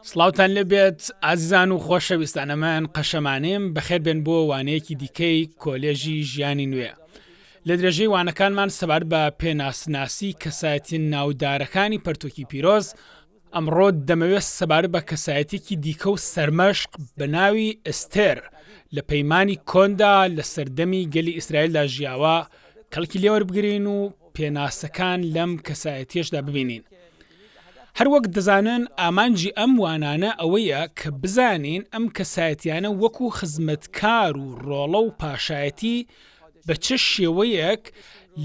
سلااوان لەبێت ئازیزان و خۆشەویستانەمان قەشەمانێم بەخێر بێن بۆ وانەیەکی دیکەی کۆلێژی ژیانی نوێ لە درێژەی وانەکانمان سەبار بە پێناسناسی کەسایەتی ناودارەکانی پەرتووکی پیرۆز ئەمڕۆ دەمەوێت سەبارەت بە کەسایەتیەکی دیکە و سەرمەشق بە ناوی ئەستێر لە پەیمانی کۆندا لە سەردەمی گەلی ئیسرائیلدا ژیاوە کەڵکی لێوەربگرین و پێناسەکان لەم کەسایەتیەشدا ببینین هەروەک دەزانن ئامانجی ئەم وانانە ئەوەیە کە بزانین ئەم کەسایەتیانە وەکو خزمەتکار و ڕۆڵە و پاشایەتی بە چ شێوەیەک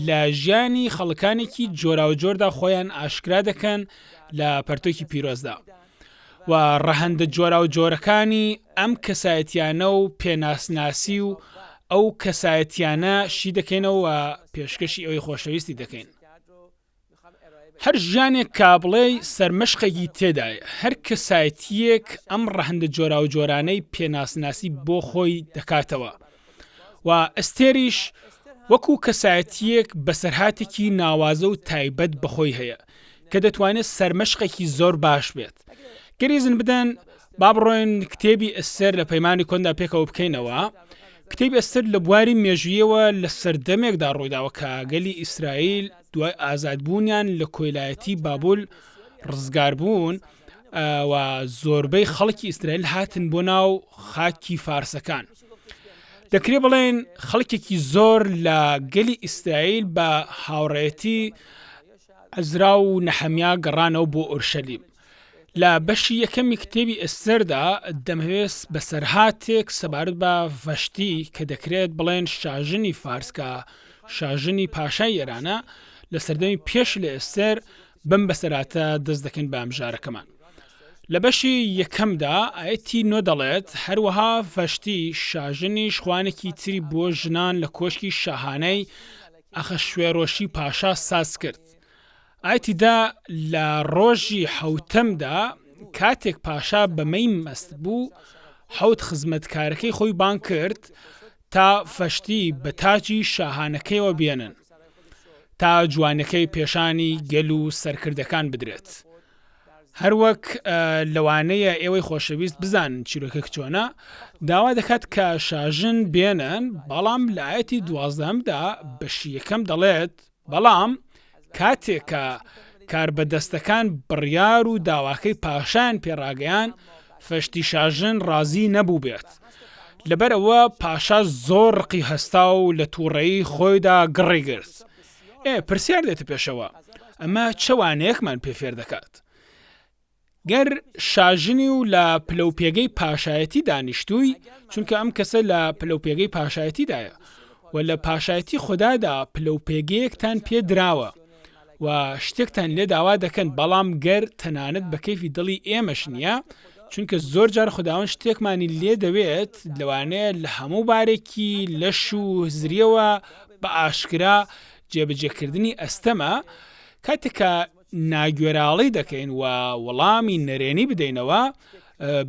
لە ژیانی خەڵکانێکی جۆراوجۆردا خۆیان ئاشکرا دەکەن لە پەرتۆکی پیرۆزدا و ڕەهندە جۆراوجۆرەکانی ئەم کەسایەتیانە و پێناسناسی و ئەو کەسایەتیانە شی دەکەینەوە پێشکەشی ئەوەی خۆشەویستی دەکەین هەر ژیانێک کابڵێی سەرمەشقێکی تێدایە، هەر کەسایەتییەک ئەم ڕەهەندە جۆراوجۆرانەی پێناسناسی بۆ خۆی دەکاتەوە و ئەستێریش وەکو کەسایەتییەک بەسەرهاتێکی ناوازە و تایبەت بەخۆی هەیە کە دەتوانێت سەرمەشقێکی زۆر باش بێت گەریزن بدەن با بڕۆین کتێبی ئەستێر لە پەیمانی کۆندا پێکەوە بکەینەوە. کتێبی ئەستێر لە بواری مێژوویەوە لە سەردەمێکدا ڕوویداوە کە گەلی ئیسرائیل دوای ئازادبوونیان لە کۆیلایەتی بابل ڕزگاربوون و زۆربەی خەڵکی ئیسرائیل هاتن بۆ ناو خاکی فارسەکان. دەکرێ بڵێین خەڵکێکی زۆر لە گەلی ئیسرائیل بە هاوڕێیەتی عەزرا و نەحەمیا گەڕانەوە بۆ ئۆرشەلیم. لە بەشی یەکەمی کتێبی ئێستێردا دەمەوێت بەسەرهاتێک سەبارەت بە ڤەشتی کە دەکرێت بڵێن شاژنی فارس کە شاژنی پاشای ئێرانە لە سەردەمی پێش لە ئێستێر بم بەسەراتە دەست دەکەین بە ئەمژارەکەمان لە بەشی یەکەمدا ئاەتی نۆ دەڵێت هەروەها ڤەشتی شاژنیش خوانێکی تری بۆ ژنان لە کۆشکی شاهانەی ئەخە شوێرۆشی پاشا ساز کرد ئایتیدا لە ڕۆژی حەوتەمدا کاتێک پاشا بە مەی مەست بوو، حەوت خزمەتکارەکەی خۆی بانگ کرد تا فەشتی بە تاجی شاهانەکەیەوە بێنن تا جوانیەکەی پێشانی گەل و سەرکردەکان بدرێت. هەروەک لەوانەیە ئێوەی خۆشەویست بزانن چیرۆکەک چۆنە، داوا دەکات کە شاژن بێنن، بەڵام لە ئایەتی دوازدەهەمدا بەشی یەکەم دەڵێت، بەڵام کاتێک کە کاربەدەستەکان بڕیار و داواکەی پاشایان پێ ڕاگەیاند، فەشتی شاژن ڕازی نەبووبێت، لەبەرئەوە پاشا زۆر ڕقی هەستا و لە تووڕەیی خۆیدا گڕی گرت. ئێ، پرسیار دێتە پێشەوە، ئەمە چ وانەیەکمان پێ فێر دەکات؟ گەر شاژنی و لە پلەو پێگەی پاشایەتی دانیشتووی، چونکە ئەم کەسە لە پلەو پێگەی پاشایەتیدایە، وە لە پاشایەتی خودادا پلەو پێگەیەکتان پێ دراوە، و شتێکتان لێ داوا دەکەن، بەڵام گەر تەنانەت بە کەیفی دڵی ئێمەش نییە، چونکە زۆر جار خوداوەند شتێکمانی لێ دەوێت، لەوانەیە لە هەموو بارێکی لەش و هزرییەوە بە ئاشکرا جێبەجێکردنی ئەستەمە، کاتێک کە. ناگوێراڵی دەکەین و وڵامی نەرێنی بدەینەوە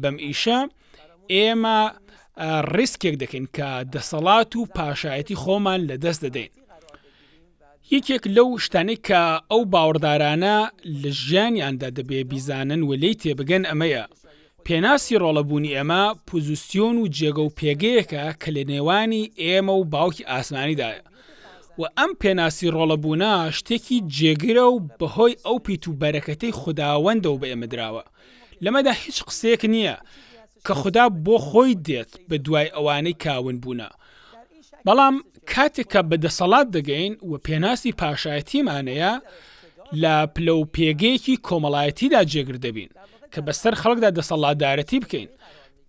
بەم ئیشە، ئێمە ڕیسکێک دەکەین کە دەسەڵات و پاشایەتی خۆمان لە دەست دەدەین. یەکێک لەو شتانەی کە ئەو باوەڕدارانە لە ژیانیاندا دەبێ بیزانن و لێی تێبگەن ئەمەیە، پێناسی ڕۆڵە بوونی ئێمە پوزسیۆن و جێگە و پێگەیەکە کە لە نێوانی ئێمە و باوکی ئاسمانیدایە و ئەم پێناسی ڕۆڵە بوونە شتێکی جێگرە و بەهۆی ئەو پیت و بەرەکەتەی خوداوەندەوە بە ئێمە دراوە لەمەدا هیچ قسەیەک نییە کە خودا بۆ خۆی دێت بە دوای ئەوانەی کە ون بوونە بەڵام کاتێک کە بە دەسەڵات دەگەین و پێناسی پاشایەتیمانەیە لە پلە و پێگەیەکی کۆمەڵایەتیدا جێگر دەبین کە بەسەر خەڵکدا دەسەڵاتدارەتی بکەین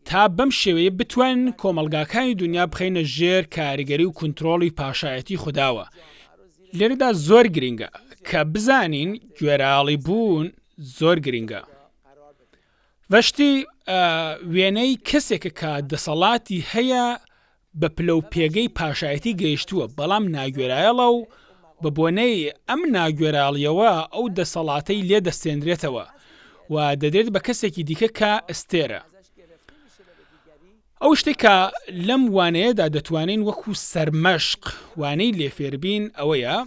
تا بەم شێوەیە بتوانین کۆمەلگاکانی دنیا بخەینە ژێر کاریگەری و کونترۆڵی پاشایەتی خودداوە لێرەدا زۆر گرنگە کە بزانین گوێراڵی بوون زۆر گرنگە ڤەشتی وێنەی کەسێکە کە دەسەڵاتی هەیە بە پلە و پێگەی پاشایەتی گەیشتووە بەڵام ناگوێرایەڵە و بە بۆنەی ئەم ناگوێراڵیەوە ئەو دەسەڵاتەی لێ دەستێندرێتەوە و دەدرێت بە کەسێکی دیکە کە ئەستێرە ئەو شتەی کە لەم وانەیەدا دەتوانین وەکو سەرمەشق وانەی لێ فێربین ئەوەیە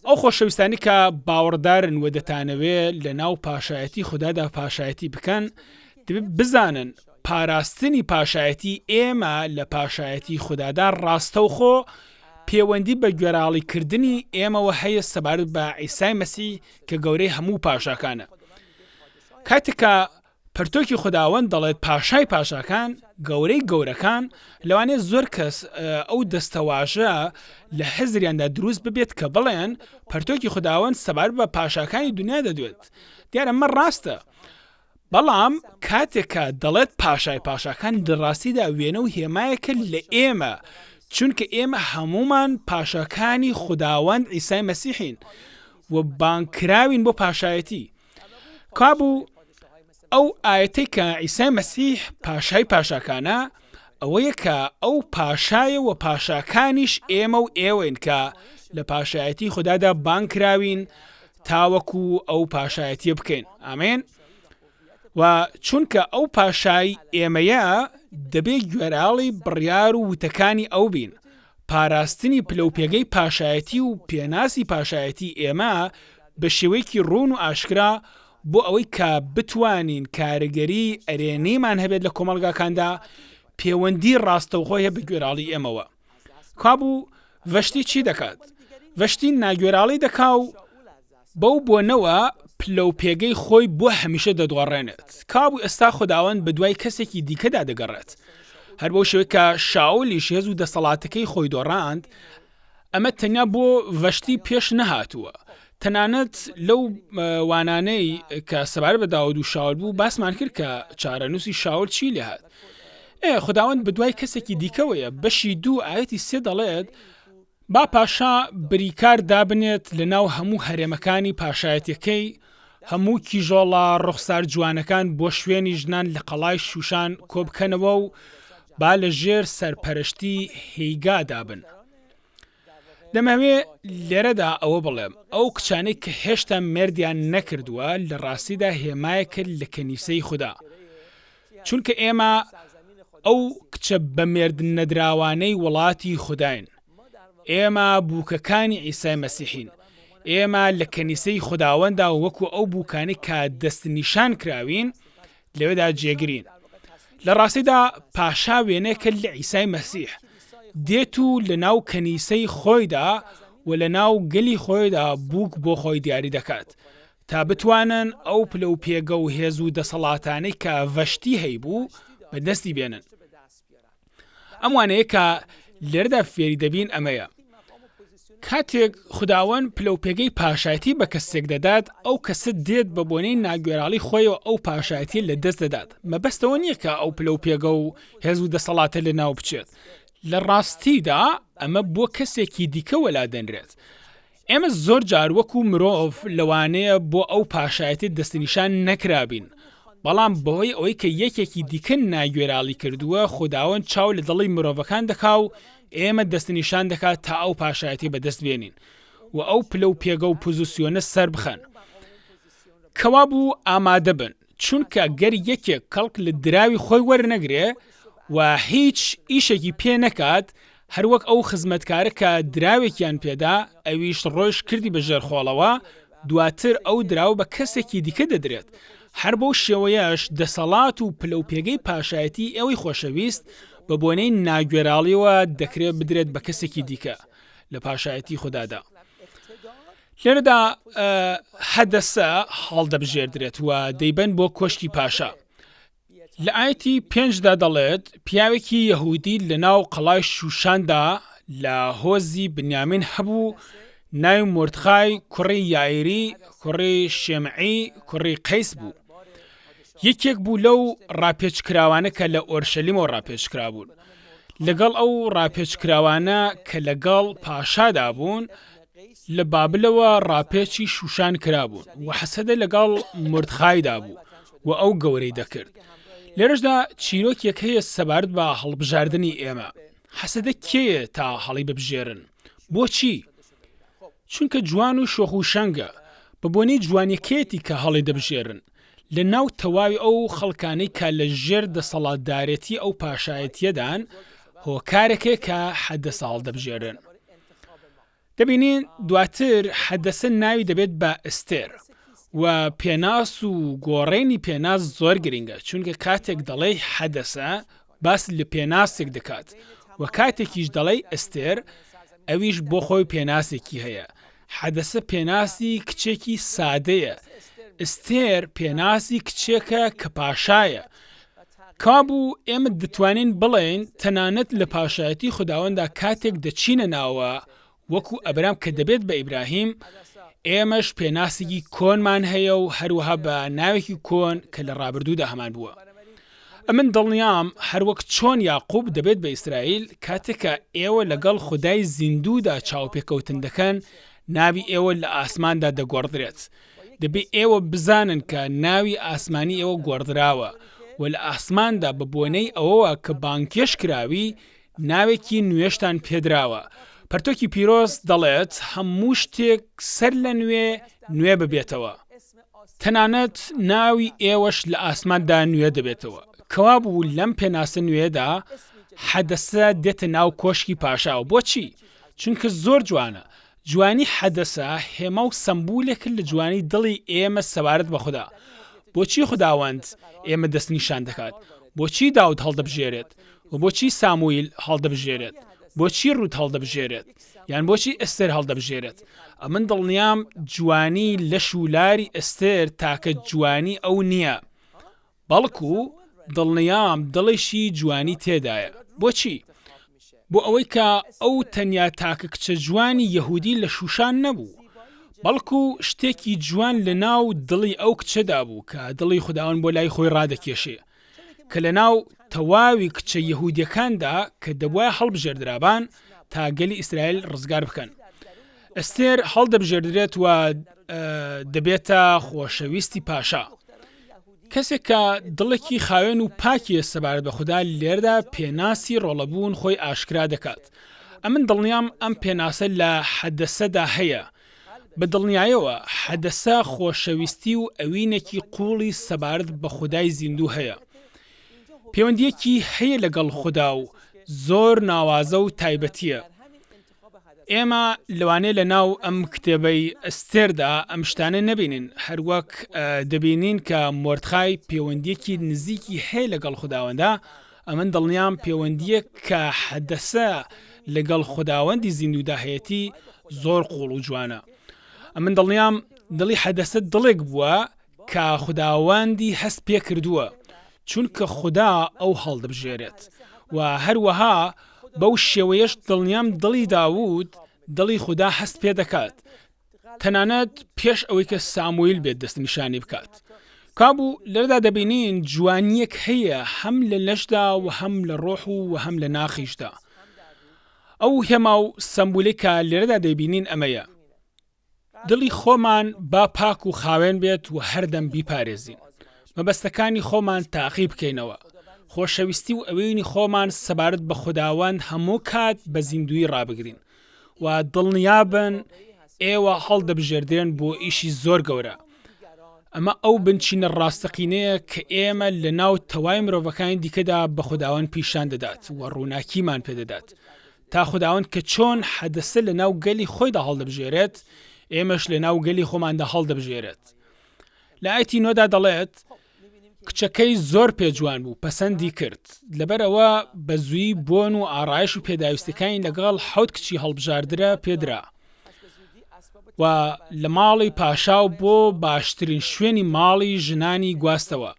ئەو خۆشەویستانی کە باوەڕدارن و دەتانەوێ لە ناو پاشایەتی خوددادا پاشایەتی بکەن بزانن پاراستنی پاشایەتی ئێمە لە پاشایەتی خوددادا ڕاستەوخۆ پێوەندی بە گوێراڵیکردنی ئێمەوە هەیە سەبارەت بە ئیسای مەسی کە گەورەی هەموو پاشاکانە کاتێکە پەرتۆکی خوداوەند دەڵێت پاشای پاشاکان، گەورەی گەورەکان، لەوانەیە زۆر کەس ئەو دەستەواژە لە هزریاندا دروست ببێت کە بڵێن پەرتۆکی خوداوەند سەبارەت بە پاشاکانی دونیا دەدوێت، دیارە ئەمە ڕاستە، بەڵام کاتێک کە دەڵێت پاشای پاشاکان لە ڕاستیدا وێنە و هێمایەکە لە ئێمە، چونکە ئێمە هەموومان پاشاکانی خوداوەند عیسای مەسیحین و بانگکراوین بۆ پاشایەتی. کابوو ئەو ئاەتی کە ئیسای مەسیح پاشای پاشاکانە ئەوەیە کە ئەو پاشایە و پاشاکانیش ئێمە و ئێوەین کە لە پاشایەتی خوددادا بانکراوین تاوەکو ئەو پاشایەتیە بکەین ئامێن و چونکە ئەو پاشای ئێمەیە دەبێ گوێراڵی بڕیار و وتەکانی ئەو بین پاراستنی پلەوپێگەی پاشایەتی و پێناسی پاشایەتی ئێمە بە شێوەیەکی ڕوون و ئاشکرا بۆ ئەوەی کە بتوانین کارگەری ئەرێنیمان هەبێت لە کۆمەڵگاکاندا پێوەندی ڕاستەوخۆ هەیە بە گوێراڵی ئێمەوە کابوو ڤەشتی چی دەکات ڤەشتی ناگوێراڵی دەکا و بەو بۆنەوە پلە و پێگەی خۆی بۆ هەمیشە دەدۆڕێنێت. کابوو ئێستا خوداوەند بە دوای کەسێکی دیکەدا دەگەڕێت. هەر بەو شێوەی کە شاولیش هێز و دەسەڵاتەکەی خۆی دۆڕاند، ئەمە تەنیا بۆ ڤەشتی پێش نەهاتووە. تەنانەت لەو وانانەی کە سەبارەت بە داود و شاول بوو باسمان کرد کە چارەنووسی شاول چی لێهات. ئێ خوداوەند بە دوای کەسێکی دیکەوەیە، بەشی دوو ئایەتی سێ دەڵێت، با پاشا بریکار دابنێت لە ناو هەموو هەرێمەکانی پاشایەتیەکەی، هەموو کیژۆڵە ڕوخسار جوانەکان بۆ شوێنی ژنان لە قەڵای شووشان کۆبکەنەوە و با لە ژێر سەرپەرشتی هێیگا دابن. دەمهەوێ لێرەدا ئەوە بڵێم، ئەو کچانەی کە هێشتا مێردیان نەکردووە لە ڕاستیدا هێمایەکن لە کەنیسەی خودا. چونکە ئێمە ئەو کچە بەمێردنەدراوانەی وڵاتی خوداین، ئێمە بووکەکانی عیسای مەسیحین، ئێمە لە کەنیسەی خوداوەنددا وەکو ئەو بووکانەی کە دەستنیشانکراوین لەوێدا جێگرین. لە ڕاستیدا پاشا وێنەیەکە لە عیسای مەسیح، دێت و لەناو کەنیسەی خۆیدا و لەناو گەلی خۆیدا بووک بۆ خۆی دیاریدەکات، تا بتوانن ئەو پلە و پێگە و هێز و دەسەڵاتانەی کە ڤەشتی هەیبوو بە دەستی بێنن. ئەم وانەیە کە لێرەدا فێری دەبین ئەمەیە، کاتێک خوداوەند پلە و پێگەی پاشایەتی بە کەسێک دەدات، ئەو کەسە دێت بە بۆنەی ناگوێراڵی خۆیەوە ئەو پاشایەتیە لە دەست دەدات، مەبەست ئەوە نیە کە ئەو پلە و پێگە و هێز و دەسەڵاتە لە ناو بچێت، لە ڕاستیدا ئەمە بۆ کەسێکی دیکە وەلا دەنرێت، ئێمە زۆر جار وەکو مرۆڤ لەوانەیە بۆ ئەو پاشایەتیە دەستنیشان نەکرابین، بەڵام بەهۆی ئەوەی کە یەکێکی دیکە ناگوێراڵی کردووە، خوداوەند چاو لە دڵی مرۆڤەکان دەکا و ئێمە دەستنیشان دەکا تا ئەو پاشایەتیە بەدەست بێنین و ئەو پلە و پێگە و پوزسیۆنە سەربخەن کەوابوو ئامادەبن. چونکە گەر یەکێک کەڵک لە دراوی خۆی وەرنەگرێ و هیچ ئیشێکی پێ نەکات، هەروەک ئەو خزمەتکارە کە دراوێکیان پێدا، ئەویش ڕۆیشت کردی بە ژێر خۆڵەوە، دواتر ئەو دراوە بە کەسێکی دیکە دەدرێت. هەر بەو شێوەیەش دەسەڵات و پلەوپێگەی پاشایەتیی ئێوەی خۆشەویست، بە بۆنەی ناگوێراڵییەوە دەکرێ بدرێت بە کەسێکی دیکە لە پاشایەتیی خودادا. لێرەدا هەدەسە هەڵدەبژێردرێت و دەیبەن بۆ کۆشکی پاشا. لە ئاەتی پێنجدا دەڵێت پیاوێکی یەهودی لە ناو قەڵای شوشاندا لە هۆزی بنیامین هەبوو ناوی مردخای کوڕی یایری کوڕی شێمعی کوڕی قەیس بوو یەکێک بوو لەو ڕاپێچکراوانە کە لە ئۆرشەلیمەوە ڕاپێچکرا بوون لەگەڵ ئەو ڕاپێچکراوانە کە لەگەڵ پاشادا بوون لە بابلەوە ڕاپێچی شووشان کرابوون و هەسەدە لەگەڵ مۆردخایدا بوو و ئەو گەورەی دەکرد. لێرەشدا چیرۆکێک هەیە سەبارەت بە هەڵبژاردنی ئێمە. هەسەدە کێیە تا هەڵیببژێرن؟ بۆچی؟ چونکە جوان و شۆخ و شەنگە، بە بۆنەی جوانییەکەیەتی کە هەڵیدەبژێرن لە ناو تەواوی ئەو خەڵکانەی کە لە ژێر دەسەڵاتدارێتی ئەو پاشایەتییەدان، هۆکارەکەیە کە هەدەسە هەڵدەبژێرن. دەبینین دواتر حەدەسە ناوی دەبێت بە ئەستێر و پێناس و گۆڕێنی پێناس زۆر گرنگە چونکە کاتێک دەڵێی حەدەسە باس لە پێناسێک دەکات و کاتێکیش دەڵێی ئەستێر ئەویش بۆ خۆی پێناسێکی هەیە حەدەسە پێناسی کچێکی سادەیە ئەستێر پێناسی کچێکە کە پاشایە کابوو ئێمە دەتوانین بڵێین تەنانەت لە پاشایەتی خوداوەندا کاتێک دەچینە ناوە وەکو ئەبرام کە دەبێت بە ئیبراهیم ئێمەش پێناسێکی کۆنمان هەیە و هەروەها بە ناوێکی کۆن کە لە ڕابردوودا هەمان بووە ئەمن دڵنیام هەروەک چۆن یاقوب دەبێت بە ئیسرائیل کاتێکە ئێوە لەگەڵ خودای زیندوودا چاوپێکەوتن دەکەن ناوی ئێوە لە ئاسماندا دەگۆڕدرێت دەبێ ئێوە بزانن کە ناوی ئاسمانی ئێوە گۆڕدراوە و لە ئاسماندا بە بۆنەی ئەوەوە کە بانگهێشت کراوی ناوێکی نوێشتان پێدراوە. پەرتوکی پیرۆز دەڵێت هەموو شتێک سەر لە نوێ نوێ ببێتەوە. تەنانەت ناوی ئێوەش لە ئاسماندا نوێ دەبێتەوە. کەوابوو لەم پێناسە نوێیەدا حەدەسە دێتە ناو کۆشکی پاشا و بۆچی؟ چونکە زۆر جوانە. جوانی حەدەسە هێما و سەمبولێکن لە جوانی دڵی ئێمە سەبارەت بە خودا. بۆچی خوداوەند ئێمە دەستنیشان دەکات؟ بۆچی داود هەڵدەبژێرێت؟ و بۆچی ساموئیل هەڵدەبژێرێت؟ بۆچی ڕوت هەڵدەبژێرێت؟ یان بۆچی ئەستێر هەڵدەبژێرێت؟ ئەمن دڵنیام جوانی لەش و لاری ئەستێر تاکە جوانی ئەو نییە، بەڵکو دڵنیام دڵێکی جوانی تێدایە. بۆچی؟ بۆ ئەوەی کە ئەو تەنیا تاکە کچە جوانی یەهودی لە شووشان نەبوو، بەڵکو شتێکی جوان لە ناو دڵی ئەو کچەدا بوو کە دڵی خوداوەند بۆ لای خۆی ڕادەکێشێ، کە لە ناو تەواوی کچە یەهودیەکاندا کە دەبوایە هەڵبژێردرابان تا گەلی ئیسرائیل ڕزگار بکەن، ئەستێر هەڵدەبژێردرێت و دەبێتە خۆشەویستی پاشا. کەسێک کە دڵێکی خاوێن و پاکی یە سەبارەت بە خودا، لێرەدا پێناسی ڕۆڵەبوون خۆی ئاشکرا دەکات. ئەمن دڵنیام ئەم پێناسە لە حەدەسەدا هەیە. بە دڵنیایەوە، حەدەسە خۆشەویستی و ئەوینێکی قووڵی سەبارەت بە خودای زیندوو هەیە. پێوەندییەکی هەیە لەگەڵ خودا و زۆر ناوازە و تایبەتییە. ئێمە لەوانەیە لە ناو ئەم کتێبەی ئەستێردا ئەم شتانە نەبینین، هەروەک دەبینین کە مۆردخای پێوەندییەکی نزیکی هەیە لەگەڵ خوداوەندا، ئەمن دڵنیام پێوەندییەک کە حەدەسە لەگەڵ خوداوەندی زیندوودا هەیەتی زۆر قووڵ و جوانە، ئەمن دڵنیام دڵی حەدەسە دڵێک بووە کە خوداوەندی هەست پێ کردووە، چونکە خودا ئەو هەڵدبژێرێت، و هەروەها بەو شێوەیەش دڵنیام دڵی داوود دڵی خودا هەست پێ دەکات، تەنانەت پێش ئەوەی کە ساموئیل بێت دەستنیشانی بکات. کابوو لێرەدا دەبینین جوانییەک هەیە هەم لە لەشدا و هەم لە ڕۆح و وە هەم لە ناخیشدا. ئەو هێما و سەمبولەی کە لێرەدا دەیبینین ئەمەیە، دڵی خۆمان با پاک و خاوێن بێت و هەردەم بیپارێزین، مەبەستەکانی خۆمان تاقی بکەینەوە، خۆشەویستی و ئەوینی خۆمان سەبارەت بە خوداوەند هەموو کات بە زیندوویی ڕابگرین و دڵنیابن ئێوە هەڵدەبژێردرێن بۆ ئیشی زۆر گەورە، ئەمە ئەو بنچینە ڕاستەقینەیە کە ئێمە لەناو تەوای مرۆڤەکانی دیکەدا بە خوداوەند پیشان دەدات و ڕووناکیمان پێدەدات تا خوداوەند کە چۆن حەدەسە لە ناو گەلی خۆیدا هەڵدەبژێرێت، ئێمەش لە ناو گەلی خۆماندا هەڵدەبژێرێت. لە ئایەتی نۆدا دەڵێت، کچەکەی زۆر پێ جوان بوو، پەسەندی کرد. لەبەر ئەوە بە زوویی بۆن و ئاڕایش و پێداویستیەکانی لەگەڵ حەوت کچی هەڵبژاردرا پێدرا و لە ماڵی پاشا و بۆ باشترین شوێنی ماڵی ژنانی گواستەوە.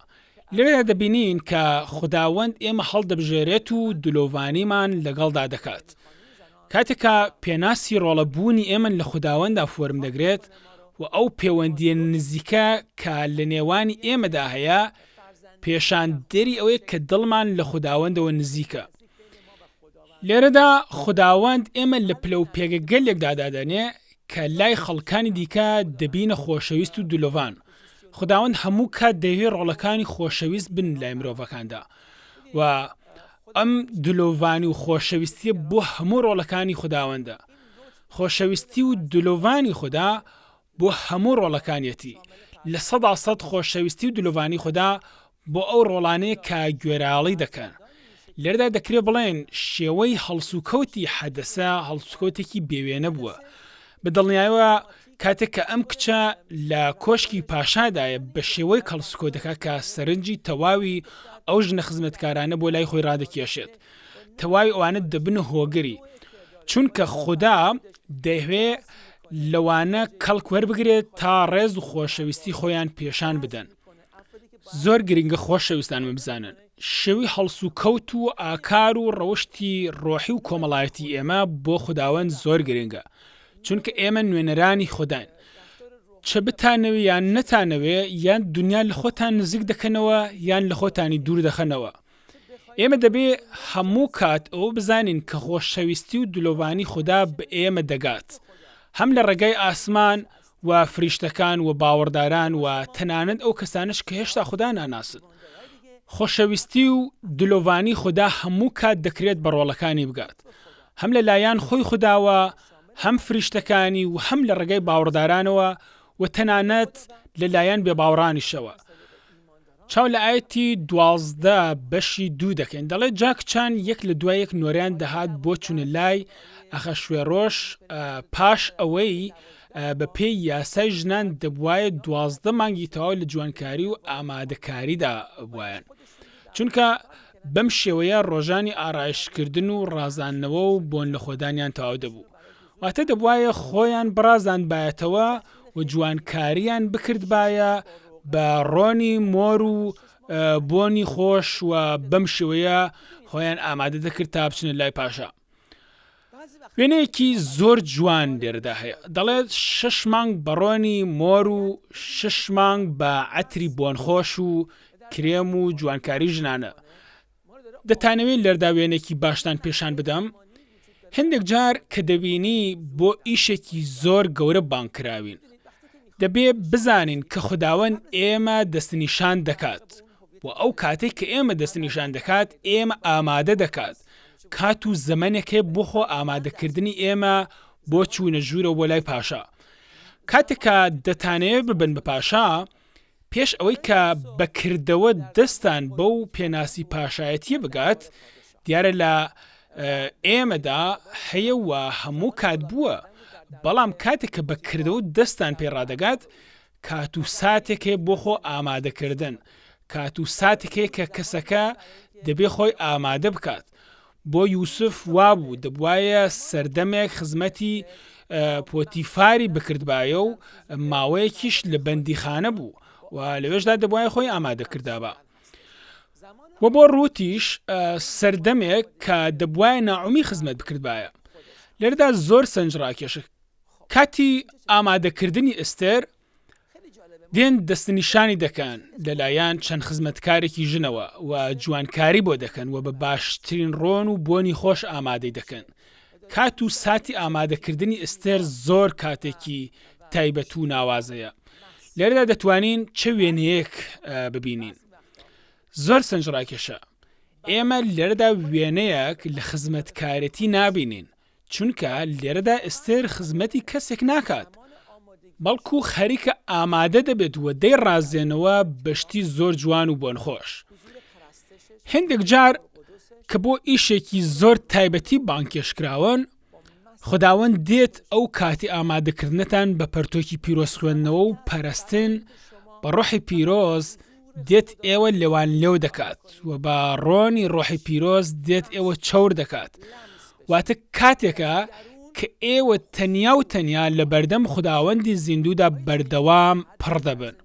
لەوێدا دەبینین کە خوداوەند ئێمە هەڵدەبژێرێت و دلۆڤانیمان لەگەڵدا دەکات. کاتێک کە پێناسی ڕۆڵە بوونی ئێمن لە خوداوەندا فۆرم دەگرێت و ئەو پێوەندیە نزیکە کە لە نێوانی ئێمەدا هەیە پێشان دەری ئەوەیە کە دڵمان لە خوداوەندەوە نزیکە. لێرەدا خوداوەند ئێمە لە پلە و پێگەگەلێکدادادەنێ کە لای خەڵکانی دیکە دەبینە خۆشەویست و دلۆڤان خوداوەند هەموو کات دەیەوێت ڕۆڵەکانی خۆشەویست بن لای مرۆڤەکاندا و ئەم دلۆڤانی و خۆشەویستیە بۆ هەموو ڕۆڵەکانی خوداوەندە خۆشەویستی و دلۆڤانی خودا بۆ هەموو ڕۆڵەکانیەتی لە سەدا سەد خۆشەویستی و دلۆڤانی خودا بۆ ئەو ڕۆڵانەی کە گوێراڵی دەکەن. لێرەدا دەکرێت بڵێین شێوەی هەڵسوکەوتی حەدەسە هەڵسوکەوتێکی بێ وێنە بووە. بە دڵنیایەوە کاتێک کە ئەم کچە لە کۆشکی پاشادایە بە شێوەیەک هەڵسوکەوت دەکات کە سەرنجی تەواوی ئەو ژنە خزمەتکارانە بۆ لای خۆی ڕادەکێشێت. تەواوی ئەوانە دەبنە هۆگری. چونکە خودا دەیهوێ لەوانە کەڵک وەربگرێت تا ڕێز و خۆشەویستی خۆیان پێشان بدەن. زۆر گرنگە خۆشەویستانم بزانن شێوی هەڵسو کەوت و ئاکار و ڕەوشتی ڕۆحی و کۆمەڵایەتی ئێمە بۆ خوداوەند زۆر گرنگە چونکە ئێمە نوێنەرانی خودداین چە بتانەوێ یان نەتانەوێ یان دنیا لە خۆتان نزیک دەکەنەوە یان لە خۆتانی دوور دەخەنەوە ئێمە دەبێ هەموو کات ئەو بزانین کە خۆشەویستی و دلۆڤانی خوددا بە ئێمە دەگات هەم لە ڕێگای ئاسمان و فریشتەکان و باوەڕداران و تەنانەت ئەو کەسانەش کە هێشتا خودا ناناسن. خۆشەویستی و دلۆڤانی خودا هەموو کات دەکرێت بە ڕۆڵەکانی بگات، هەم لە لایان خۆی خوداوە، هەم فریشتەکانی و هەم لە ڕێگای باوەڕدارانەوە و تەنانەت لە لایان بێباوەڕانیشەوە. چاو لە ئایەتی دوازدە بەشی دوو دەکەین دەڵێت جا کچان یەک لە دوای یەک نۆرەیان دەهات بۆ چونە لای ئەخەشوێڕۆش پاش ئەوەی بە پێی یاسای ژنان دەبوایە دوازدە مانگی تەواو لە جوانکاری و ئامادەکاریدا بوایەن چونکە بەم شێوەیە ڕۆژانی ئارایشتکردن و ڕازاندنەوە و بۆن لەخۆدانیان تەواو دەبوو واتە دەبوایە خۆیان بڕازاندبایەتەوە و جوانکارییان بکردبایە بە ڕۆنی مۆر و بۆنی خۆش و بەم شێوەیە خۆیان ئامادە دەکرد تا بچنە لای پاشا. وێنەیەکی زۆر جوان لێرەدا هەیە دەڵێت شش مانگ بەڕۆنی مۆر و شش مانگ بە عەتری بۆنخۆش و کرێم و جوانکاری ژنانە دەتانەوێ لەردا وێنەێکی باشتان پێشان بدەم؟ هەندێک جار کە دەبینی بۆ ئیشێکی زۆر گەورە بانگ کراوین، دەبێ بزانین کە خوداوەند ئێمە دەستنیشان دەکات و ئەو کاتەی کە ئێمە دەستنیشان دەکات ئێمە ئامادە دەکات. کات و زەمەنێک هەیە بۆ خۆ ئامادەکردنی ئێمە بۆ چوونە ژوورەوە بۆ لای پاشا. کاتێک کە دەتانەوێ ببن بە پاشا، پێش ئەوەی کە بە کردەوە دەستان بەو پێناسی پاشایەتییە بگات، دیارە لە ئێمەدا هەیە و هەموو کات بووە، بەڵام کاتێک کە بە کردەوە دەستان پێ ڕادەگات، کات و ساتێک هەیە بۆ خۆ ئامادەکردن، کات و ساتێک هەیە کە کەسەکە دەبێ خۆی ئامادە بکات بۆ یوسف وابوو دەبوایە سەردەمێک خزمەتی پۆتیفاری بکردبایە و ماوەیەکیش لە بەندیخانە بوو و لەوێشدا دەبوایە خۆی ئامادەکردابا و بۆ ڕوتیش سەردەمێک کە دەبوایە ناعمی خزمەت بکردبایە لێردا زۆر سنج ڕاکێشە کاتی ئامادەکردنی ئستێر دێن دەستنیشانی دەکەن لەلایەن چەند خزمەتکارێکی ژنەوە و جوانکاری بۆ دەکەن و بە باشترین ڕۆن و بۆنی خۆش ئامادەی دەکەن کات و ساتی ئامادەکردنی ئستێر زۆر کاتێکی تایبەت و ناوازەیە لێرەدا دەتوانین چ وێنەیەک ببینین زۆر سەنجڕاکێشە ئێمە لێرەدا وێنەیەک لە خزمەتکارێتی نابینین چونکە لێرەدا ئێستێر خزمەتی کەسێک ناکات، بەڵکو خەریکە ئامادە دەبێت و دەیڕازێنەوە بە شتی زۆر جوان و بۆنخۆش. هێندێک جار کە بۆ ئیشێکی زۆر تایبەتی بانگهێشتکراون، خوداوەند دێت ئەو کاتی ئامادەکردنتان بە پەرتۆکی پیرۆز خوێندنەوە و پەرستن بە ڕۆحی پیرۆز دێت ئێوە لێوانلێو دەکات و بە ڕۆنی ڕۆحی پیرۆز دێت ئێوە چەور دەکات واتە کاتێکە کە ئێوە تەنیا و تەنیا لە بەردەم خوداوەندی زیندوودا بەردەوام پڕ دەبن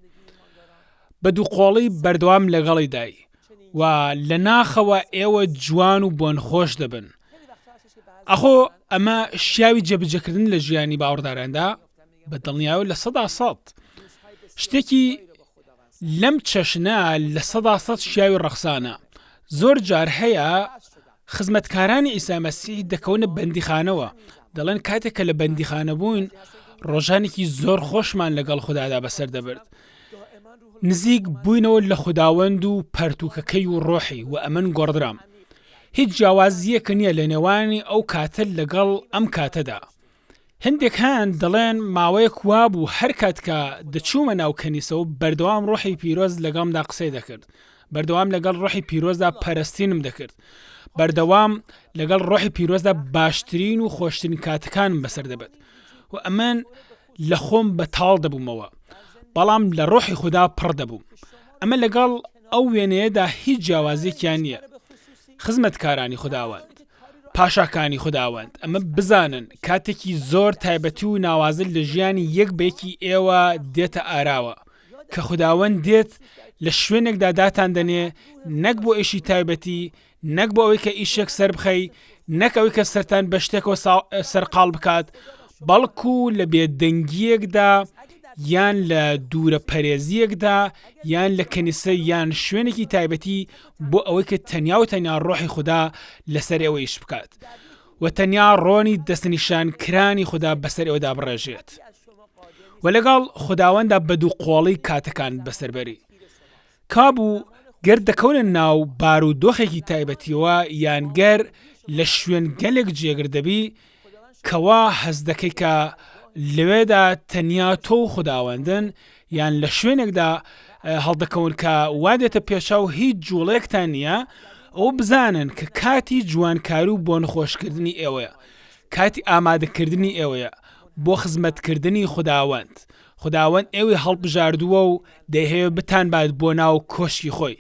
بە دووقۆڵی بەردەوام لەگەڵی دای و لە ناخەوە ئێوە جوان و بۆن خۆش دەبن ئەخۆ ئەمە شیاوی جێبجەکردن لە ژیانی باوەڕداراندا بە دڵنیاو لە سەدا سەد شتێکی لەم چەشنە لە سەدا سەد شیاوی ڕەخسانە. زۆر جار هەیە خزمەتکارانی عیسا مەسیح دەکەونە بەندیخانەوە، دەڵێن کاتێک کە لە بەندیخانە بووین، ڕۆژانێکی زۆر خۆشمان لەگەڵ خودادا بەسەر دەبرد. نزیک بووینەوە لە خوداوەند و پەرتووکەکەی و ڕۆحی و ئەمن گۆڕدرام. هیچ جیاوازییەک نییە لەنێوانی ئەو کاتە لەگەڵ ئەم کاتەدا. هەندێک هەن دەڵێن ماوەیەک وابوو هەرکات کە دەچوومە ناو کەنیسەوە بەردەوام ڕۆحی پیرۆز لەگەڵمدا قسەی دەکرد بەردەوام لەگەڵ ڕۆحی پیرۆزدا پەرستینم دەکرد بەردەوام لەگەڵ ڕۆحی پیرۆزدا باشترین و خۆشترین کاتەکانم بەسەر دەبەت و ئەمن لە خۆم بەتاڵ دەبوومەوە بەڵام لە ڕۆحی خوددا پڕ دەبووم ئەمە لەگەڵ ئەو وێنەیەدا هیچ جیاوازێکیان نییە خزمەتکارانی خودداوەند پاشاکانی خوداوەند ئەمە بزانن کاتێکی زۆر تایبەتی و ناوازە لە ژیانی یەک بەیەکی ئێوە دێتە ئاراوە کە خوداوەند دێت لە شوێنێکدا داتان دەنێ نەک بۆ ئێشی تایبەتی نەک بۆ ئەوەی کە ئیشێک سربخەی نەک ئەوەی کە سەران بە شتێکەوە سەرقال بکات بەڵکو لە بێدەنگیەکدا یان لە دوورە پەرێزیەکدا یان لە کەنیسە یان شوێنێکی تایبەتی بۆ ئەوەی کە تەنیا و تەنیا ڕۆحی خوددا لەسەر ئەوە ئیش بکات و تەنیا ڕۆنی دەستنیشان کرانی خوددا بەسەر ئەودا بڕێژێت و لەگەڵ خداوەندا بە دوو قۆڵی کاتەکان بەسەربەری کابوو گەر دەکەونە ناو بار و دۆخێکی تایبەتیەوە یانگەر لە شوێن گەلێک جێگر دەبی کوا هەست دەکەی کە لەوێدا تەنیا تۆ و خوداوەندن، یان لە شوێنێکدا هەڵدەکەون کە وا دێتە پێشچاو هیچ جوڵەیەکتان نییە، ئەوە بزانن کە کاتی جوانکاری و بۆنخۆشکردنی ئێوەیە، کاتی ئامادەکردنی ئێوەیە بۆ خزمەتکردنی خوداوەند، خوداوەند ئێوەی هەڵبژاردووە و دەیهەوێت بتانبات بۆ ناو کۆشکی خۆی،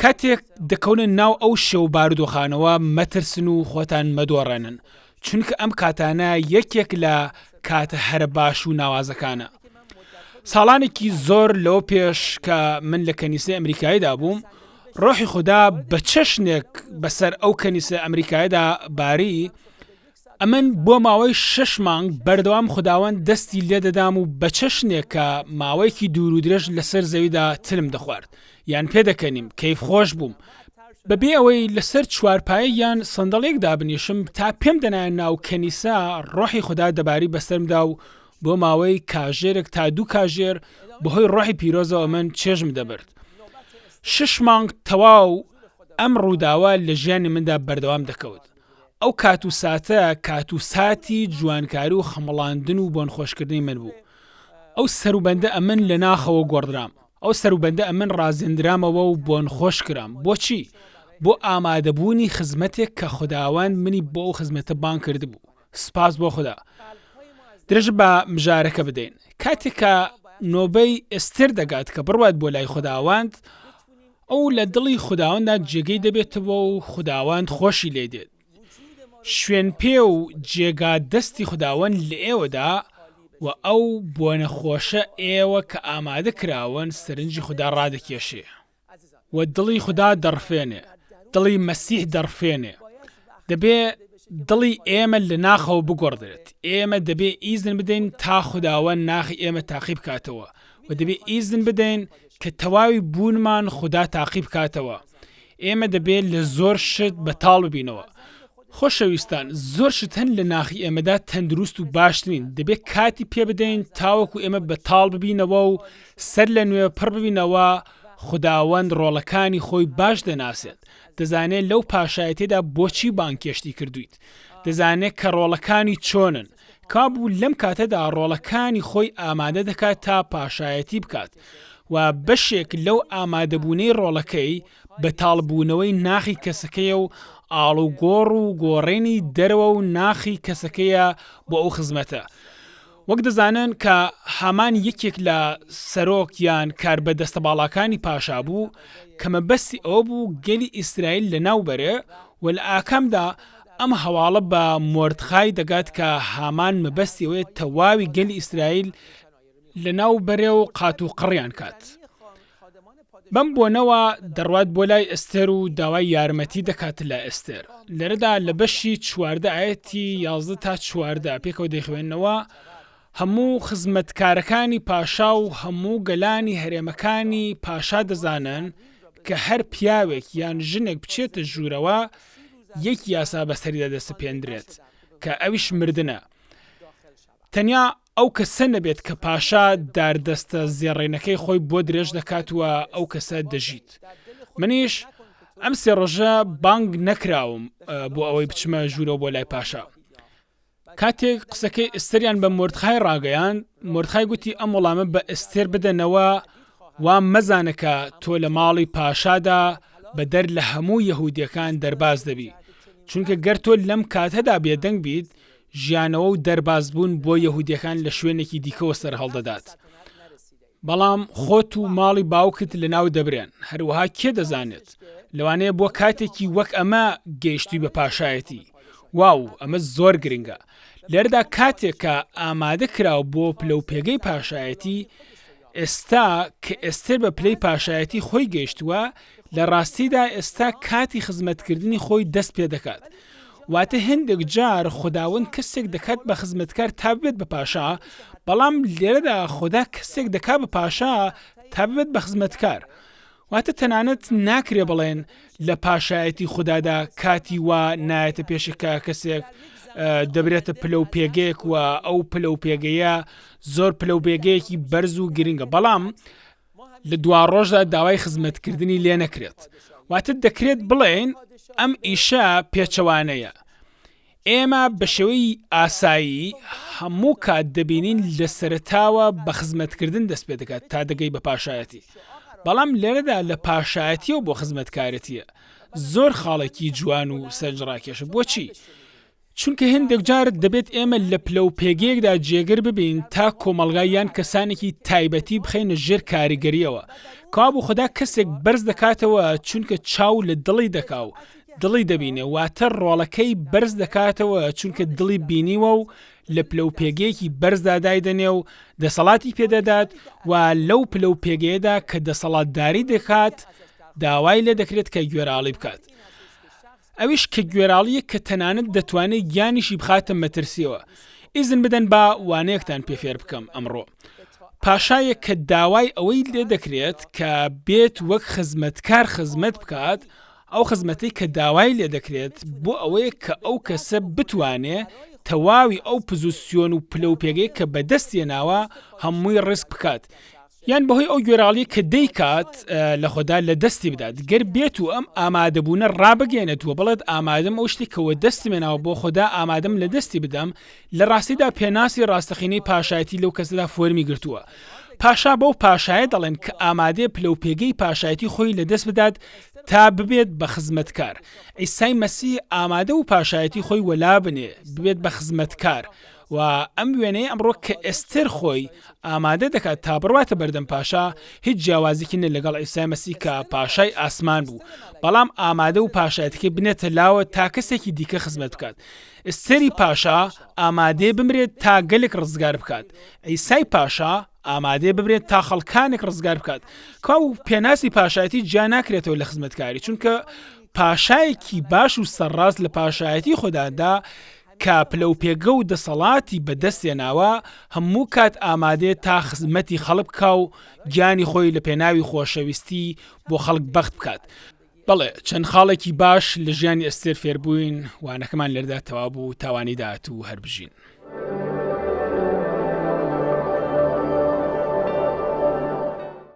کاتێک دەکەونە ناو ئەو شێ و بارودۆخانەوە مەترسن و خۆتان مەدۆڕێنن چونکە ئەم کاتانە یەکێک لە کاتە هەرە باش و ناوازەکانە ساڵانێکی زۆر لەوە پێش کە من لە کەنیسەی ئەمریکایدا بووم ڕۆحی خودا بە چەشنێک بەسەر ئەو کەنیسە ئەمریکایدا باری ئەمن بۆ ماوەی شەش مانگ بەردەوام خوداوەند دەستی لێ دەدام و بە چەشنێک کە ماوەیەکی دوور و درێژ لەسەر زەویدا تلم دەخوارد یان پێدەکەنیم کەیفخۆش بووم بەبێ ئەوەی لەسەر چوارپایە یان سندڵێک دابنیشم تا پێم دەنایە ناو کەنیسە ڕۆحی خودا دەباری بەسەرمدا و بۆ ماوەی کاژێرێک تا دوو کاژێر بەهۆی ڕۆحی پیرۆزەوە من چێژم دەبرد شش مانگ تەواو ئەم ڕووداوە لە ژیانی مندا بەردەوام دەکەوت ئەو کات و ساتە کات و ساتی جوانکاری و خەمڵاندن و بۆنخۆشکردنی من بوو. ئەو سەروبەندە ئەمن لە ناخەوە گۆڕدرام. ئەو سەروبەندە ئەمن ڕازێندرامەوە و بۆنخۆش کرام. بۆچی؟ بۆ ئامادەبوونی خزمەتێک کە خوداوەند منی بۆ ئەو خزمەتە بانگ کردبوو. سپاس بۆ خودا. درێژە بە مژارەکە بدەین. کاتێک کە نۆبەی ئێستێر دەگات کە بڕوات بۆ لای خوداوەند، ئەو لە دڵی خوداوەنددا جێگەی دەبێتەوە و خوداوەند خۆشی لێ دێت. شوێنپێ و جێگا دەستی خوداوەند لە ئێوەدا و ئەو بۆنە خۆشە ئێوە کە ئامادە کراون سەرنجی خودا ڕادەکێشێ و دڵی خودا دەڕفێنێ، دڵی مەسیح دەڕفێنێ، دەبێ دڵی ئێمە لە ناخەوە بگۆڕدرێت ئێمە دەبێ ئیزن بدەین تا خداوە ناخی ئێمە تاقی بکاتەوە و دەبێ ئیزن بدەین کە تەواوی بوونمان خوددا تاقی بکاتەوە ئێمە دەبێت لە زۆر شت بەتاڵ ببینەوە خۆشەویستان زۆر شت هەن لە ناخی ئێمەدا تەندروست و باشترین دەبێت کاتی پێ بدەین تاوەکو ئێمە بەتاڵ ببینەوە و سەر لە نوێ پڕ ببینەوە خداوەند ڕۆڵەکانی خۆی باش دەناسێت دەزانێت لەو پاشایەتیەدا بۆچی بانگهێشتی کردوویت، دەزانێت کە ڕۆڵەکانی چۆنن، کەوابوو لەم کاتەدا ڕۆڵەکانی خۆی ئامادە دەکات تا پاشایەتی بکات و بەشێک لەو ئامادەبوونەی ڕۆڵەکەی بەتاڵبوونەوەی ناخی کەسەکەیە و ئاڵوگۆڕ و گۆڕێنی دەرەوە و ناخی کەسەکەیە بۆ ئەو خزمەتە وەک دەزانن کە هامان یەکێک لە سەرۆک یان کاربەدەستە باڵاکانی پاشا بوو کە مەبەستی ئەوە بوو گەلی ئیسرائیل لەناو بەرێ و لە ئاکامدا ئەم هەواڵە بە مۆردخای دەگات کە هامان مەبەستی ئەوەیە تەواوی گەلی ئیسرائیل لەناو بەرێ و قاتوقڕیان کات. بەم بۆنەوە دەڕوات بۆ لای ئێستێر و داوای یارمەتی دەکات لە ئێستێر لەرەدا لە بەشی چواردە ئایەتی یازدە تا چواردە پێکەوە دەیخوێنەوە هەموو خزمەتکارەکانی پاشا و هەموو گەلانی هەرێمەکانی پاشا دەزانن کە هەر پیاوێک یان ژنێک بچێتە ژوورەوە یەک یاسا بەسەریدا دەسەپێندرێت کە ئەویش مردنە تەنیا ئەو کەسە نەبێت کە پاشا داردەستە زێڕێنەکەی خۆی بۆ درێژ دەکات و ئەو کەسە دەژیت منیش ئەم سێ ڕۆژە بانگ نەکراوم بۆ ئەوەی بچمە ژوورەوە بۆ لای پاشا کاتێک قسەکەی ئستریان بە مردخای ڕاگەیان مردخای گوتی ئەم وەڵامە بە ئستێر بدەنەوە وا مەزانەکە تۆ لە ماڵی پاشادا بەدەر لە هەموو یەهودیەکان دەرباز دەبی چونکە گەر تۆ لەم کاتەدا بێدەنگ بیت ژیانەوە و دەربازبوون بۆ یەهودییەکان لە شوێنێکی دیکەوە سەرهەڵدەدات، بەڵام خۆت و ماڵی باوکت لەناودەبرێن. هەروەها کێ دەزانێت، لەوانەیە بۆ کاتێکی وەک ئەمە گەیشتووی بە پاشایەتی. واو، ئەمە زۆر گرنگە! لێرەدا کاتێک کە ئامادەکراو بۆ پلەوپێگەی پاشایەتی، ئێستا کە ئێستێر بە پلەی پاشایەتی خۆی گەیشتووە، لە ڕاستیدا ئێستا کاتی خزمەتکردنی خۆی دەست پێ دەکات. واتە هێندێک جار خوداوەند کەسێک دەکات بە خزمەتکار تا ببێت بە پاشا، بەڵام لێرەدا خودا کەسێک دەکات بە پاشا تا ببێت بە خزمەتکار. واتە تەنانەت ناکرێ بڵێن لە پاشایەتی خوددادا کاتی وا نایەتە پێشی کە کەسێک دەبرێتە پلە و پێگەیەک و ئەو پلە و پێگەیە زۆر پلە و پێگەیەکی بەرز و گرنگە بەڵام لە دوا ڕۆژدا داوای خزمەتکردنی لێ نەکرێت واتە دەکرێت بڵێن ئەم ئیشە پێچەوانەیە ئێمە بە شێوەی ئاسایی هەموو کات دەبینین لە سەرەتاوە بە خزمەتکردن دەست پێ دەکات تا دەگەی بە پاشایەتی، بەڵام لێرەدا لە پاشایەتییەوە بۆ خزمەتکارێتییە زۆر خاڵێکی جوان و سەرنجڕاکێشە. بۆچی؟ چونکە هێندێک جار دەبێت ئێمە لە پلە و پێگەیەکدا جێگر ببین تا کۆمەڵگا یان کەسانێکی تایبەتی بخەینە ژێر کاریگەرییەوە، کەوابوو خودا کەسێک بەرز دەکاتەوە چونکە چاو لە دڵی دەکا و دڵی دەبینێ واتە ڕۆڵەکەی بەرز دەکاتەوە چونکە دڵی بینیوە و لە پلە و پێگەیەکی بەرزدا دایدەنێ و دەسەڵاتی پێدەدات و لەو پلە و پێگەیەدا کە دەسەڵاتداری دەکات داوای لێ دەکرێت کە گوێراڵی بکات ئەویش کە گوێراڵیە کە تەنانەت دەتوانێت گیانیشی بخاتە مەترسیەوە ئیزن بدەن با وانەیەکتان پێ فێر بکەم ئەمڕۆ پاشایەک کە داوای ئەوەی لێ دەکرێت کە بێت وەک خزمەتکار خزمەت بکات ئەو خزمەتەی کە داوای لێ دەکرێت بۆ ئەوەیە کە ئەو کەسە بتوانێ تەواوی ئەو پزوسیۆن و پلە و پێگەی کە بە دەستی هێناوە هەمووی ڕیسک بکات یان بە هۆی ئەو گوێراڵیە کە دەیکات لە خۆدا لە دەستی بدات گەر بێت و ئەم ئامادەبوونە ڕابگەێنێت و بڵێت ئامادەم ئەو شتی کەوە دەستی مێناوە بۆ خۆدا ئامادەم لە دەستی بدەم لە ڕاستیدا پێناسی ڕاستەقینەی پاشایەتی لەو کەسەدا فۆرمی گرتووە پاشا بەو پاشایە دەڵێن کە ئامادەێ پلە و پێگەی پاشایەتی خۆی لە دەست بدات تا ببێت بە خزمەتکار. عیسای مەسیح ئامادە و پاشایەتی خۆی وەلا بنێ، ببێت بە خزمەتکار. و ئەم وێنەیە ئەمڕۆ کە ئێستێر خۆی ئامادە دەکات تا بڕواتە بەردەم پاشا، هیچ جیاوازیکی نیە لەگەڵ عیسای مەسیح کە پاشای ئاسمان بوو، بەڵام ئامادە و پاشایەتیەکەی بنێتە لاوە تا کەسێکی دیکە خزمەت بکات. ئێستێری پاشا ئامادەیە بمرێت تا گەلێک ڕزگار بکات. عیسای پاشا. ئامادەیە بمرێت تا خەڵکانێک ڕزگار بکات کوا و پێناسی پاشایەتی جیا ناکرێتەوە لە خزمەتکاری چونکە پاشایەکی باش و سەرڕاست لە پاشایەتی خودادا کە پلە و پێگە و دەسەڵاتی بەدەستێناوە هەموو کات ئامادەیە تا خزمەتی خەڵک کا و گیانی خۆی لە پێناوی خۆشەویستی بۆ خەڵک بەخت بکات بەڵێ چەند خاڵێکی باش لە ژیانی ئەستێر فێربووین وانەکەمان لەردا تەوا بوو تاوانی داات و هەربژین.